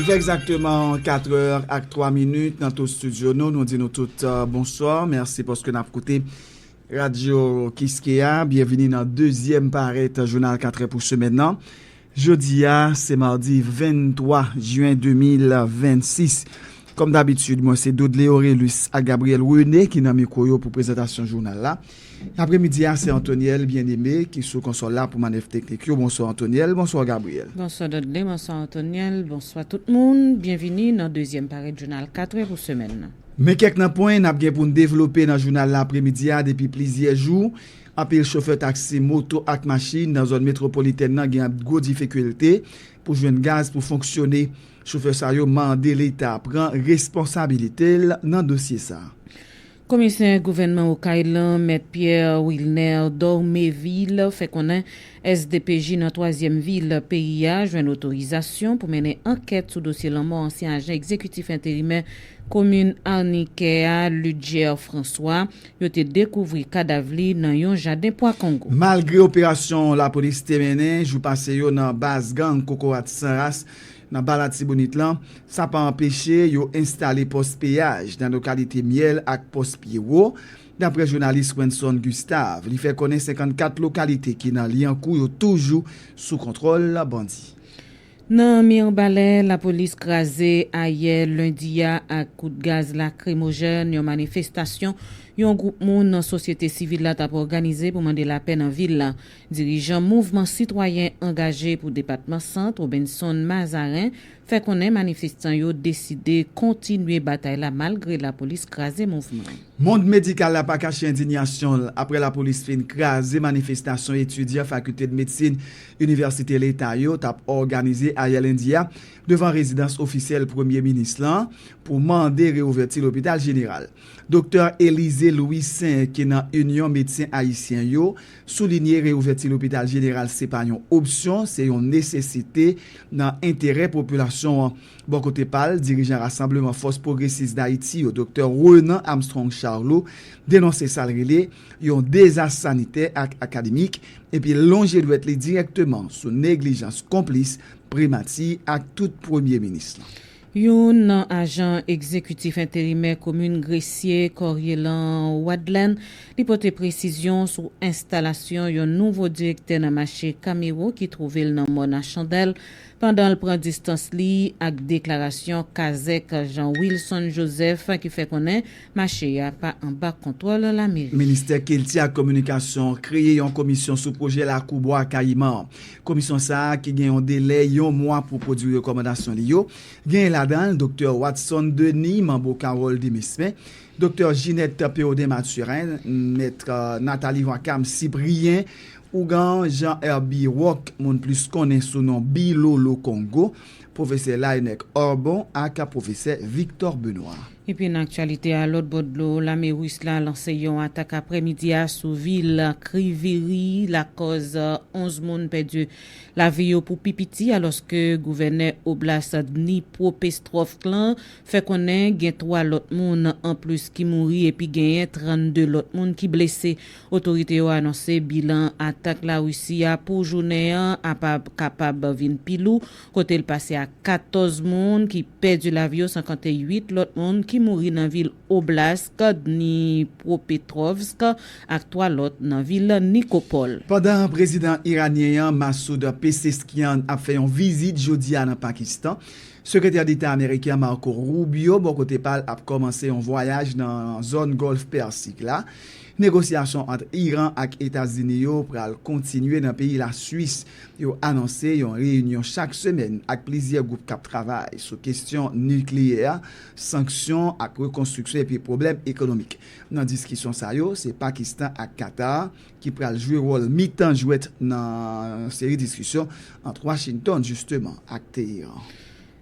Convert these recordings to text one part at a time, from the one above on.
Li fè egzakteman 4 è ak 3 minit nan tout studio nou. Nou di nou tout bonswa. Mèsi paske nap koute radyo kiskeya. Byenvini nan dezyèm parèt jounal 4 è pou semèn nan. Jodi a se mardi 23 jen 2026. Kòm dabitid, mwen se Dodley Orelus ak Gabriel René ki nan mikwo yo pou prezantasyon jounal la. Apre midi a se Antoniel Bien Aimé ki sou konsòl la pou manèv teknik yo. Bonswa Antoniel, bonswa Gabriel. Bonswa Dodley, bonswa Antoniel, bonswa tout moun. Byenvini nan dezyèm parèt jounal 4 è pou semèn nan. Men kèk nan pwen n ap gen pou n devlope nan jounal la apre midi a depi plizyè jou. Anpil chofè taksi, moto ak machin nan zòn metwopolitèn nan gen gwo difikilte pou jwenn gaz pou fonksyone. Chofè sa yo mande leta pran responsabilite l nan dosye sa. Komisè gouvènman Okay lan, mèt Pierre Wilner Dormevil fè konnen SDPJ nan twazyèm vil peyi a jwenn otorizasyon pou mennen ankèt sou dosye lanmò ansyen ajan egzekitif enterimè komin Arnikè a Ludger François Yo te dekouvri kadav li nan yon jaden pwa kongo. Malgre operasyon lapolis te mennen jou pase yo nan baz gang Kokorat San Ras nan Ba Latibonit lan, sa pa anpeche yo enstale pòs peyaj nan lokalite Myèl ak pòs Pye Wo, daprè jounalis Wensonn Gustave. Li fè konnen 54 lokalite ki nan Lyankou yo toujou sou kontwòl bandi. Nan Mirbalè, lapolis kraze ayè lendi a ak kout gaz lakrimojèn yon manifestasyon yon gwoup moun nan sosyete sivil la t ap òganize pou mande lapè nan vil la. Dirijan mouvman sitwayen angaje pou depatman Sant, Robenson Mazarin, fè konnen manifestan yo deside kontinye batay la malgre lapolis kraze mouvman an. Mond medikal la pa kache endinyasyon l aprè lapolis fin kraze manifestasyon etidyan Fakilte de Medsin Inivèsite Leta yo tap òganize ayè lendi a devan rezidans ofisyèl Premye Minis lan pou mande reouvèti lopital jeneral. Doktè Elysée Louissaint ki nan Inyon Medsen Ayisyen yo soulinye reouvèti lopital jeneral se pa yon opsyon, se yon nesesite nan enterè popilasyon an. Bò kote pa l, dirijan Rasanbleman Fòs Pwogresis Dayiti yo, Doktè Renan Armstrong Charlot denonse sa l rele yon dezas sanitè ak akademik, epi lonje dwèt li dirèkteman sou neglijans konplis Primati ak tout Premye Minis lan. Youn nan ajan egzekitif enterimè komin Gresye, Corielan Wadlèn, li pote presizyon sou enstalasyon yon nouvo direktè nan mache Camero ki twouve l nan mòn a Chandèl, pandan l pran distans li ak deklarasyon kazèk Jean Wilson Joseph ki fè konnen Mache a pa anba kontwòl lameri. Ministè kilti ak kominikasyon kreye yon komisyon sou pwojè lakou Bwa Kayiman an. Komisyon sa ki gen yon delè yon mwa pou pwodui rekòmandasyon li yo, genyen ladan l Doktè Watson Denis, Manbo Carole Demesmin, Doktè Ginette Pérodin Mathurin, Mèt Nathalie Joacham Cyprien, Ougan Jean Herby Roc, moun plis konnen sou non Bilolo Kongo, Pwofesè Laënnec Orbon ak Pwofesè Victor Benoît. Pi pre nan aktyalite a, lòt bò dlo, lame Ris la lanse yon atak aprè midi a sou vil Kryvyi Rih, lakòz 11 moun pèdi lavi yo pou pi piti, alòske gouvènè Oblast Dnipropestrovsk lan fè konnen gen 3 lòt moun anplis ki mouri epi genyen 32 lòt moun ki blese. Otorite yo anonse bilan atak Larisi a pou jounen an ap kapab vin pi lou kote l pase ak 14 moun ki pèdi lavi yo san konte 8 lòt moun ki mouri nan vil Oblast Dnipropetrovsk ak 3 lòt nan vil Nikopol. Pandan prezidan iranyen an, Masoud Pezeshkian, ap fè yon vizit jodi a nan Pakistan, Sekretè Deta ameriken an, Marco Rubio, bò kote pa l, ap kòmanse yon vwayaj nan zòn Gòlf Pèsik la. Negosyasyon ant Iran ak Etazini yo pral kontinye nan peyi Lasuis. Yo anonse yon reyinyon chak semèn ak plizyè gwoup k ap travay sou kesyon nikleyè, sanksyon ak rekonstriksyon epi pwoblèm ekonomik. Nan diskisyon sa yo, se Pakistan ak Katar ki pral jwe wòl mitan jwèt nan yon seri diskisyon ant Washington jisteman ak Teheran.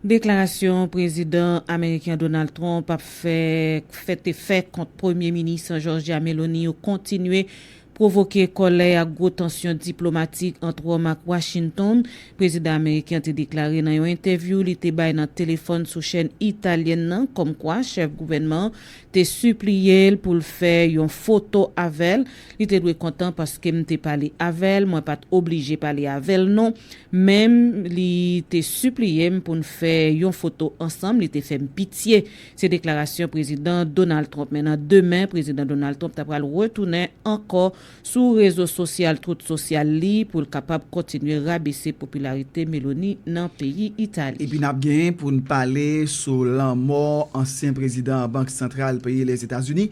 Deklarasyon Prezidan ameriken Donald Trump ap fè fè te fè kont Premye Minis Georgia Meloni yo kontinye pwovoke kòlè ak gwo tansyon diplomatik ant Wòm ak Washington, prezidan ameriken an te deklare nan yon entèvyou li te bay nan telefòn sou chèn italyèn nan kòmkwa chèf gouvènman an te sipliye l pou l fè yon foto avè l Li te dwe kontan paske m te pale avè l, mwen pa t oblije pale avè l non, men li te sipliye m pou n fè yon foto ansanm, li te fè m pitye Se deklarasyon Prezidan Donald Trump. Men nan demen, Prezidan Donald Trump ta pral retounen ankò sou rezo sosyal Truth Social li pou l kapab kontinye rabese popilarite Meloni nan peyi Itali. Epi nap gen pou n pale sou lanmò ansyen prezidan Bank Santral peyi Lèzetazini,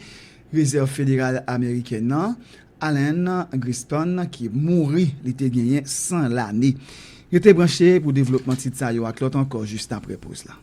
Rezèv Federal Ameriken nan, Alan Greenspan ki mouri li te genyen 100 lane. Rete branche pou devlopman tit sa yo ak lòt ankò jis aprè poz la.